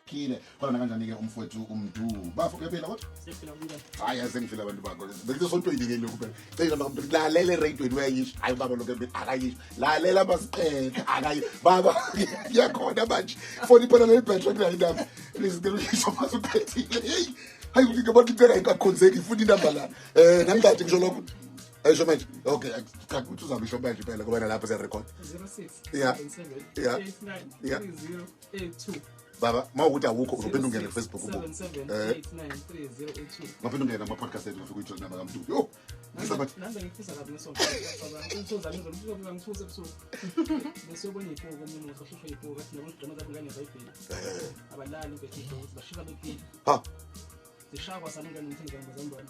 phile khona nakanjani-ke umfowethu umdu bafo kuyaphila kodwa hayi aze ngifile abantu bakho bekusesontoyini-ke lokhu phela cela bamntu lalela eradweni uyayisho hayi ubaba lokho akayisho lalela masiqele akayi baba kuyakhona manje foni iphela leli bhetho kulayo indaba please ngicela uyisho mase uphethile heyi hayi ngibona into engayikakhonzeki ngifuna inamba lana um eh, nangingathi ngisho lokho esho manje okay cha ukuthi uzabe isho manje phela ngoba nalapho siya record 06 yeah yeah 89 3082 baba uma ukuthi awukho uzophinda ungene kufacebook ubu eh. ngaphinda ungene amapodcast ethu ngafika uyijoyina bakamdu yo ha zishakwa saningane ngithini ngane zambona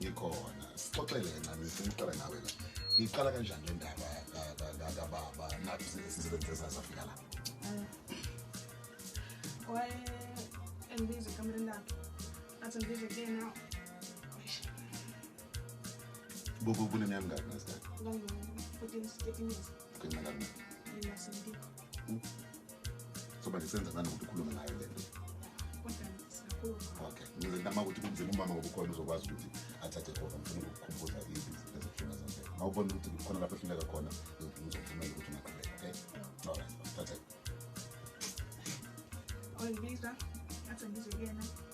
ngikhona sixoxele kancane siqala nawe la ngiqala kanjani le ndaba kababa nathi sisebenze esazi afika la waye engibiza ekamereni lakhe athi ngibize kuyena kunemyangani nasidade Ngenxa kabi. Yena sindikho. Soba lisenza ngani ukuthi ukhulume ngayo le nto? Kodwa siyakhuluma. Okay. Ngizenta uma ukuthi kunzima umama ngoba ukhona uzokwazi ukuthi athathe khona ngifuna ukukhumbuza izinto ezihlunga zonke. Mawubona ukuthi khona lapho ehluleka khona ngizokuvumela ukuthi ungaqhubeka, okay? All right. Thatha. Oyibiza athi ngizwe kuyena.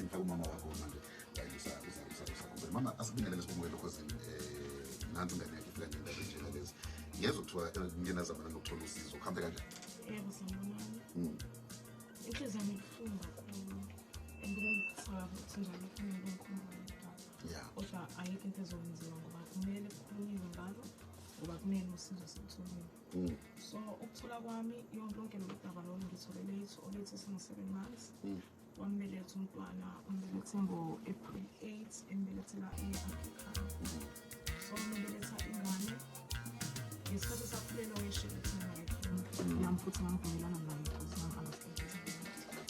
ngifake umama wakho manje uzakubele mama asibingelele sibongwele lokho zini um eh, nansi ingane yakhe ifika ngendaba enjena lezi ngezwa kuthiwa eh, ngenazamana nokuthola usizo kuhambe kanjani yebo sangonami hmm. inhliziyo yami ibuhlungu kakhulu andingakusaba ukuthi njalo kufanele bengikhumbulela kodwa ayikho into ezokwenziwa ngoba kumele kukhulunyiwe ngalo ngoba kumele usizo sekuthulweni Mm. so ukuthola kwami yonke loludaba lolu ngithole late or late esingu-seven months mm. wambeletha umntwana umbelethe ngo-april 8 embelethela e-africa mm. so umbeletha ingane ngesikhathi sakhulelwa weshelethi nam futhi ngamvumelana naye because ngam-understand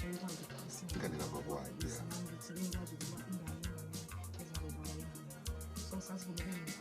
engikwazi ukukhulisa ngithi ngikwazi ukuba ingane ingane ezakuba ingane so sasivumelene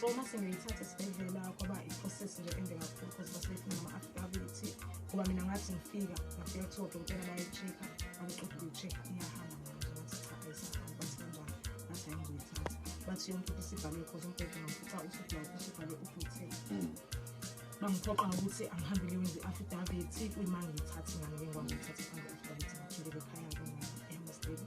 so uma sengiyithatha esibhedlela kwaba i-process nje ende kakhulu because basebefuna ama-affidavit ngoba mina ngathi ngifika ngafika kuthiwa odokotela bayi-check-a angiqeda ukuyi-check-a iyahamba ngathi cha ayisahamba bathi kanjani ngathi hayi ngizoyithatha bathi yonke into isibhalwe because umbhede ngafuca usubhalwe usubhalwe ubhuthe bangiphoqa ngokuthi angihambe ngiyowenza i-affidavit kuyima ngiyithathe ngane ke ngwangiyithathe phambi i-affidavit ngaphindele ekhaya-ke emsdeni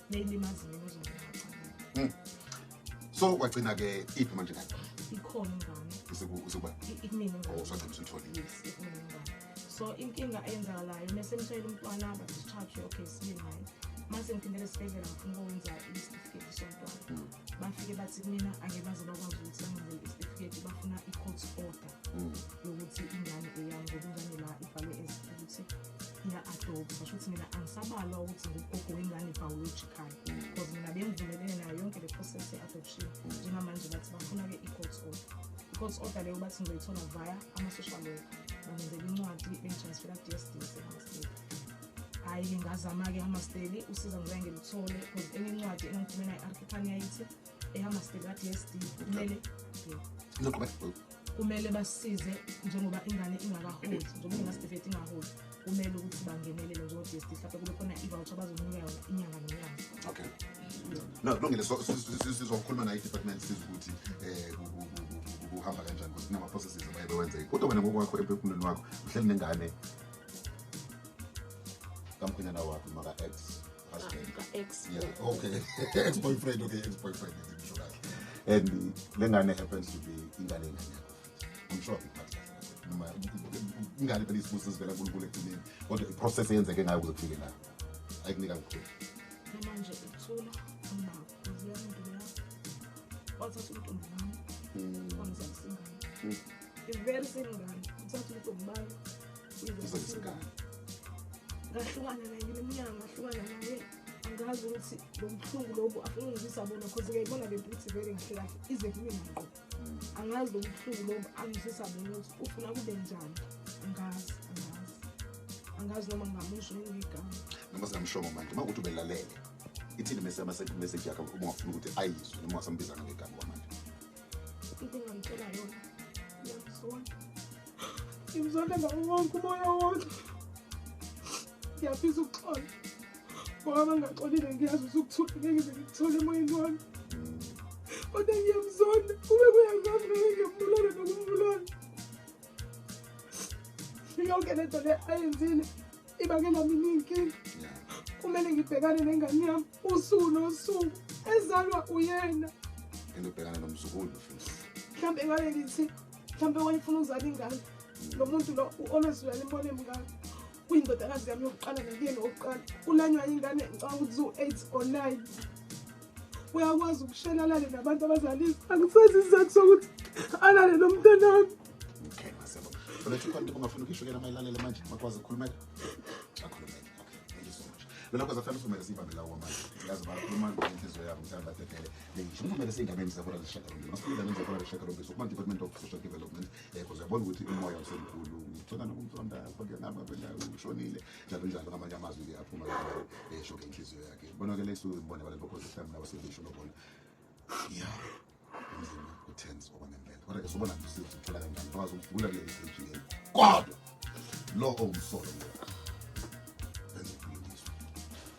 neyilimaziwe kuzongaxa hmm. so kwagcina ke iphi manje kade ikhona ingane usekuba ikunini oh sagcina usithole yes ikunini ingane so inkinga eyenzakalayo mese mshayela umntwana bathi charge okay sibili naye mase ngiphindele esibhedlela ngifuna ukwenza isitifiketi somntwana hmm. bafike bathi kumina angeke baze bakwazi ukuthi bangenzele isitifiketi bafuna i-court order mm. yokuthi ingane eyami ngokungane la ibhalwe ukuthi iya-adobe basho ukuthi mina angisabalwa ukuthi ngugogo wengane biological because mina bengivumelene nayo yonke le process ye-adoption njengamanje bathi bafuna-ke i-court order i-court order leyo bathi ngizoyithola via ama-social worker bangenzela incwadi bengitransfera ku-d s d esemastate hhayi ngingazama-ke amasteli usiza ngoba ngilithole because enye incwadi enangikhulumela i-arkhithania yithi eyamasteli ka-d s d kumele kumele basize njengoba ingane ingakaholi njengoba ingasitifiketi ingaholi kumele ukuthi bangenelele njengo-d s d mhlawumbe kube khona ivoucher bazonika yona inyanga nenyanga okay no kulungile sizokhuluma nayo i-department siza ukuthi um kuhamba kanjani ukuthi kunama-processes abaye bewenze kodwa wena ngokwakho empefumulweni wakho uhleli nengane kamkhwenyana wakho maka-ex ex okay ex boyfriend okay ex boyfriend ngisho kahle and le ngane happens to be ingane ingane yakho i'm sure ngiphathe noma ingane phela isibuso sivela kunkulunkulu ekugcineni kodwa iprocess eyenzeke ngayo kuze kufike la ayikunika mkhulu manje uthula wathatha umntombi wami hmm. wamzalisingane hmm. iveri sengane uthatha umntombi bayo uzalisingane ngahlukana naye iminyaka ngahlukana naye angazi ukuthi lo buhlungu lobu afuna ungizisa bona cause ngiyayibona le mputhi vele kahle kahle ize kimi ngqo angazi lomhluku lo angisisa mina ukuthi ufuna kube njani angazi angazi angazi noma ngamusho ngigama noma singamshongo manje uma ukuthi ubelalele ithini mese ama second message yakhe uma ungafuna ukuthi ayizwe noma wasambiza ngegama kwamanje into engamtshela yona ngiyamzona ngimzona ngawo wonke umoya wonke ngiyafisa ukuxola Ngoba bangaxolile ngiyazi usukuthula ngeke ngize ngikuthole emoyeni wami. Kodwa ngiyamzonda kube kuya ngami ngeke ngiyambulala nokumbulala. Yonke le nto le ayenzile ibangela mina iy'nkinga. Kumele ngibhekane nengane yami usuku nosuku ezalwa uyena. Into ubhekana nomzukulu mfundisi. Mhlawumbe ngabe ngithi mhlawumbe wayefuna ukuzala ingane. Lo muntu lo u-always uyalimona emngane. kuyindodakazi yami yokuqala nekuyeni wokuqala kulanywa ingane ngicanga ukuthi ziwu-eight or nine uyakwazi ukushela alale nabantu abazalile angisazi isizathu sokuthi alale lo mntana wami okay masebo uletha ikhona into ungafuna ukisho kena mayilalele manje makwazi ukukhulumela akhulumele okay thank you so much lona kwaza fanele usumele siyibambe lawo manje yazi bakhuluma ngenhliziyo yabo mhlawumbe badedele ngisho kumele siyingameni zabona zishaka lomndeni masifike ingameni zabona zishaka lomndeni so kuma-department of social development yebo ziyabona ukuthi umoya usemkhulu ngicela nokumsonda kodwa nabo abela ushonile njalo njalo ngamanye amazwi liyaphuma esho ke inhliziyo yakhe bona ke lesu ngibona abantu bokhoza mhlawumbe nabo sebisho lobona ya umzimba utense okwangempela kodwa ke sobona nje sithi uthola kanjani kwazi ukuvula ke istage yenu kodwa lo owumsolo ngoba